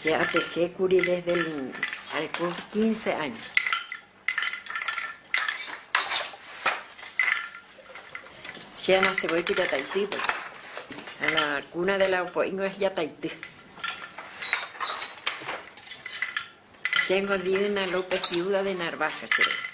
Che atehékuri desde el, al cur quince año. Che anasevoi ku jataity pues. A la cuna de la opo'ingo es jataity. Chéngo Diana López viuda de Narvaja che rei.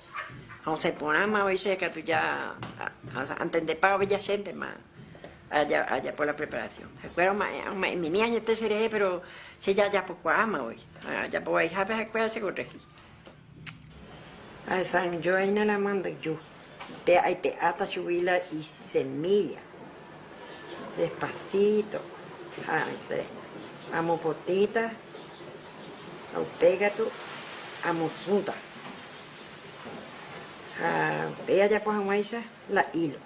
Ha osẽ porãmavoi che katu ja antendepávape jaséntema ajapo la preparación. Ha'ekuéra oma'ẽmimi añete cherehe, péro che jajapokuaámavoi. Ajapo vaihápe ha'ekuéra chekorrehi. Ahesanjoaína la manduju, pe aipe'áta chugui la isemílla. Despasíto ha che amopotĩta ha upéi katu amosũta. Ha upéi ajapo hag̃uáicha la hílo.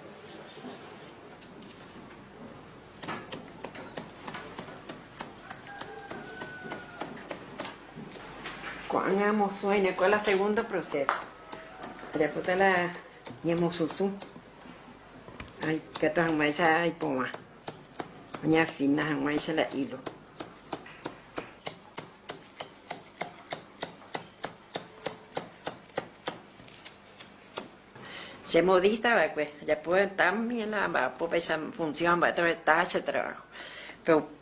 Ko'ág̃a amosũ ha'éne ko la segunda proséso. Ajapóta la ñemosũsũ. Aikatu hag̃uáicha aipovã oñeafina hag̃uáicha la hilo. Che modista va'ekue ajapo también la amba'apo péicha función mba'éterõ heta che trabajo, pero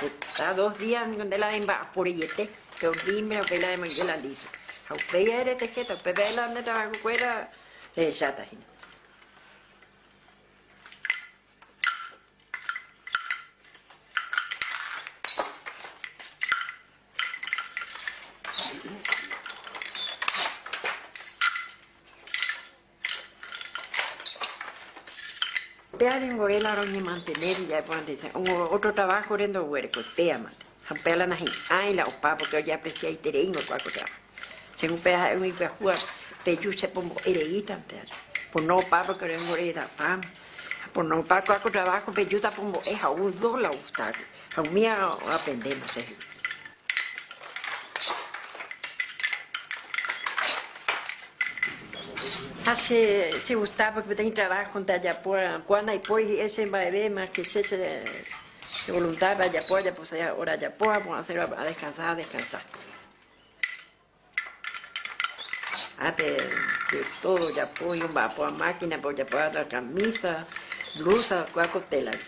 Heta dos día niko nde la remba'aporeiete, pero dime upéi la remoinge la listo. Ha upéi ae retejéta, upépe ae la nde trabajo kuéra rehecháta hína. Péa renvore la roñemantene che ja'e porãnte che ótro traváhore ndoguerekue, péamante. Ha upéva la nahi'ãi la opa, pórke ojeapresiaitereíngo kua ko traváho. Che upéva ha'e umi pyahúva peju chepombo'e reítante aja. Pono opa pórke renvore edapáma. Pono opa kua ko traváho pejúta pombo'e ha ou dos la ogusta águi. Ha umíva aprendéma che. Ha che chegusta porque peteĩ trabajo-nte ajapo, ko'ã ndaipóri hi'ẽ che mba'eve más que che che voluntápe ajapo, ajaposãi hora ajapo ha pu'asérõ a descansar, a descansar. Ápe de tódo ojapo, omba'apoha mákinape ojapoha kamísa, blúsa oikuaa ko télape.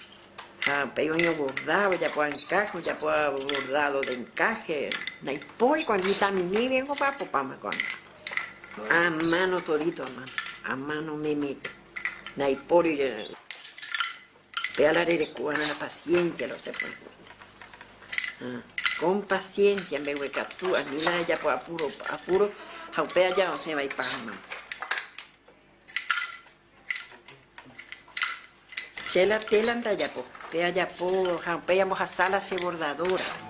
Ha upéi oñoborda, ojapo ankáhe, ojapo bordádo de enkáhe. Ndaipóri ko'ág̃a, mitãmimígui omba'apopáma ko'ág̃a. Amáno todito, amáno, amáno omeméta. Ndaipóri. Pe ára rereko va'erã la paciencia la osẽ pórã ha con paciencia mbeguekatu ani la rejapo apuro apuro ha upe aja osẽva ipágama. Che la tela ndajapo, pe ajapo ha upéi ambohasa la che bordadora.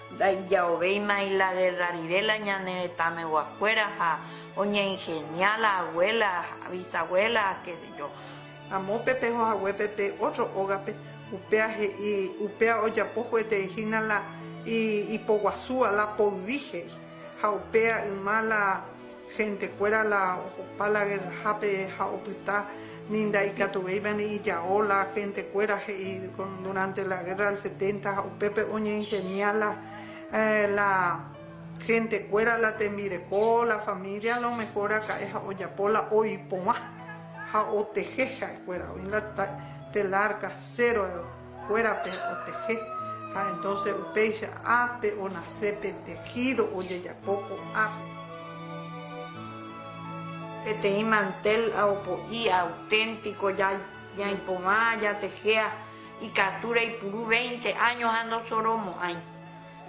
Ndaija'ovéima ilagerra rire la ñane retãmeguakuéra ha oñeinhenia la aguéla ha visaguéla ha kesejo. Ha moõpe peho hague pe pe ótro ógape, upéa he'i, upéa ojapo huetei hína la ipoguasúva, la poyvi he'i. Ha upéa yma la. Hentekuéra la ohopa la gerrahápe ha opyta, ni ndaikatuvéiva ni ijao la hentekuéra he'i durante la guerra del setenta ha upépe oñeingenia la la hentekuéra la tembireko la familia a lo mejor aka'e ha ojapo la oipovã ha oteje ha'ekuéra oĩ la telar casero kuérape oteje ha entonces upéicha ápe onase pe tejido ojejapo ko'ápe. Peteĩ mantel ha opo'i auténtico ñaipovã jatejea ikatu reipuru veinte años ha ndosoromo'ãi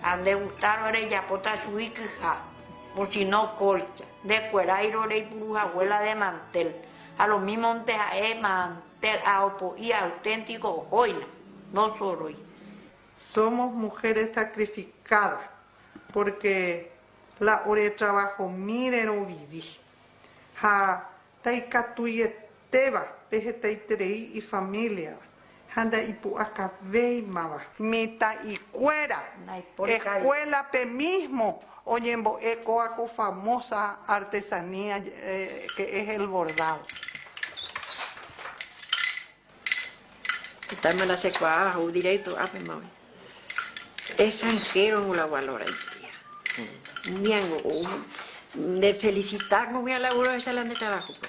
ha nde gustáro rejapóta chugui kyha o si no colcha, ndekueráirõ reipuruhague la de mantel ha lo mismo nte ha'e Térã opo'i auténtiko ohóina, nosoroi. Somos mujeres sacrificadas porque la oretravahomíre rovivi. Ha ndaikatuietéva pe hetaiterei ifamíliava ha ndaipu'akavéimava. Mitã'ikuéra escuélape mismo Oñembo'e kóva ko famosa artesanía que es el bordado. Itáima la chekuaa ha'u directo ápema oĩ. Extranjero-gui la valora itía. Umíango ou nde felicita kogui a laburo ahecha la nde trabajo-pe.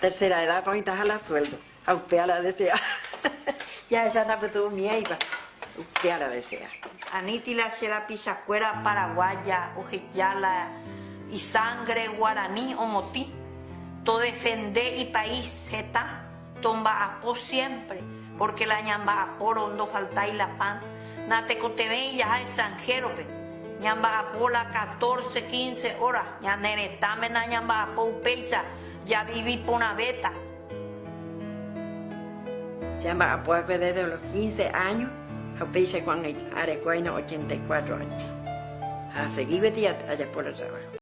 Tercera edad ko oĩtaha la sueldo ha upévare adesea jahecha ndapytu umiéipa, upévare adesea. Aniti la che rapichakuéra paraguaya oheja la isangre guarani omotĩ, todefende ipais heta, tomba'apo siempre. Pórke la ñamba'apórõ ndofaltái la pan, natekotevẽi jaha extranhérope. Ñamba'apo la katórse, kínse óra. Ñane retãme nañamba'apo upéicha, javivi porãvéta. Jamba'apo va'ekue désde los kínse áño, ha upéicha ko'ag̃aite areko'aína ochenta y kuatro áño. Ha asegi gueteri ajapo la traváho.